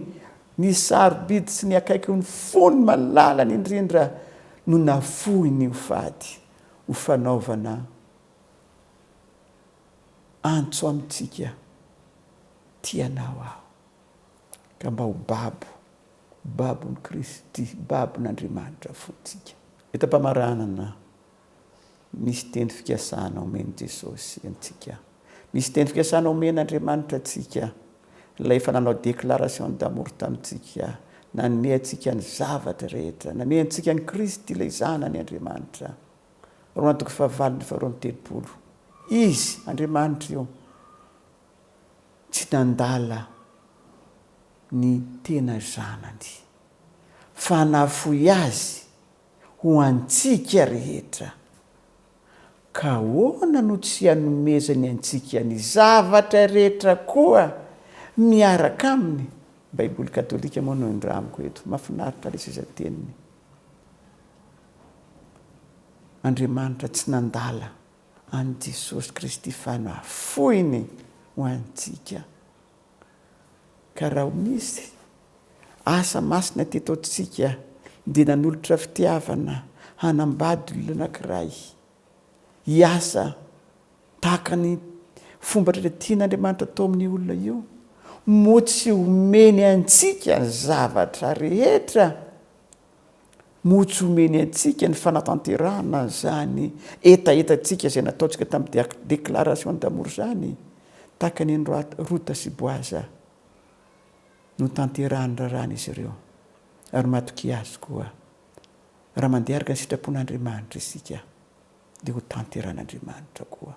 ny sarobidy sy ny akaiky ny fony malalany indrindra no nafoiny ho fady, ho fanaovana antso amintsika, Tia anao aho, ka mba ho babo, babon'i Kristy, babon'Andriamanitra fontsika. Eto am-pamaranana, Misy teny fikasana omen'i Jesosy antsika. Misy teny fikasana omen'Andriamanitra antsika. Ilay efa nanao déclaration d'amour tamintsika, nanome antsika ny zavatra rehetra, nanome antsika an'i Kristy ilay Zanany Andriamanitra. Roma toko fahavalo ny faharoa amby telopolo. Izy, Andriamanitra io, tsy nandala ny tena Zanany, fa nafoy Azy. ho antsika rehetra. Ka ahoana no tsy hanomezany antsika ny zavatra rehetra koa miaraka aminy? Baiboly katolika moa no indramiko eto. Mahafinaritra leseza teniny. Andriamanitra tsy nandala an'i Jesosy Kristy fa nafoiny ho antsika. Ka raha ho misy asa masina teto antsika dia nanolotra fitiavana hanambady olona anankiray hiasa tahaka ny fomba rehetra tian'Andriamanitra atao amin'io olona io, moa tsy omeny antsika ny zavatra rehetra? Moa tsy omeny antsika ny fanatanterahana izany hetahetantsika izay nataontsika tamin'ny Déclaration d'amour izany, tahaka ny an'i Rota sy Boaza? Notanterahin'ny raharahan' izy ireo, ary matokia Azy koa. Raha mandeha araka ny sitrapon' Andriamanitra isika, dia hotanterahin' Andriamanitra koa.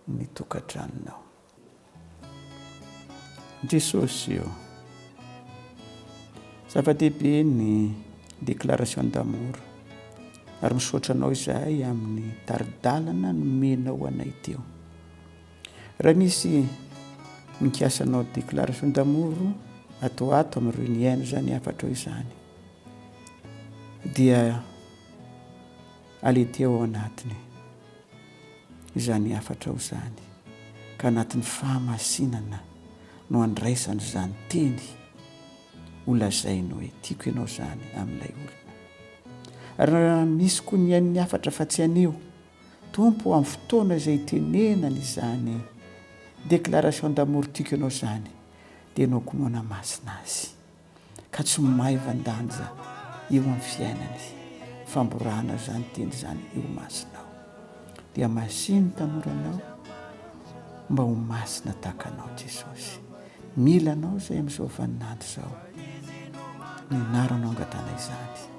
ny tokantranonao. Jesosy ô! Zava-dehibe ny déclaration d'amour ary misaotra anao izahay amin'ny tari-dalana nomenao anay teo. Raha misy mikasa anao déclaration d'amour ato ato amin'ireo niaina izany hafatrao izany dia alety ao anatiny. izany hafatrao izany, ka anatin'ny fahamasinana no andraisany izany teny ho lazainy hoe tiako ianao izany amin'ilay olona. Ary raha misy koa ny hain'ny hafatra fa tsy haneho Tompo amin'ny fotoana izay itenenany izany déclaration d'amour tiako ianao izany dia nohakonoana masina azy. ka tsy maivan-danja eo amin'ny fiainany, famborana izany teny izany eo imasonao, dia masia ny tanora anao mba ho masina tahaka anao Jesosy, mila anao izay amin'izao vaninandro izao, ny anaranao angatahana izany.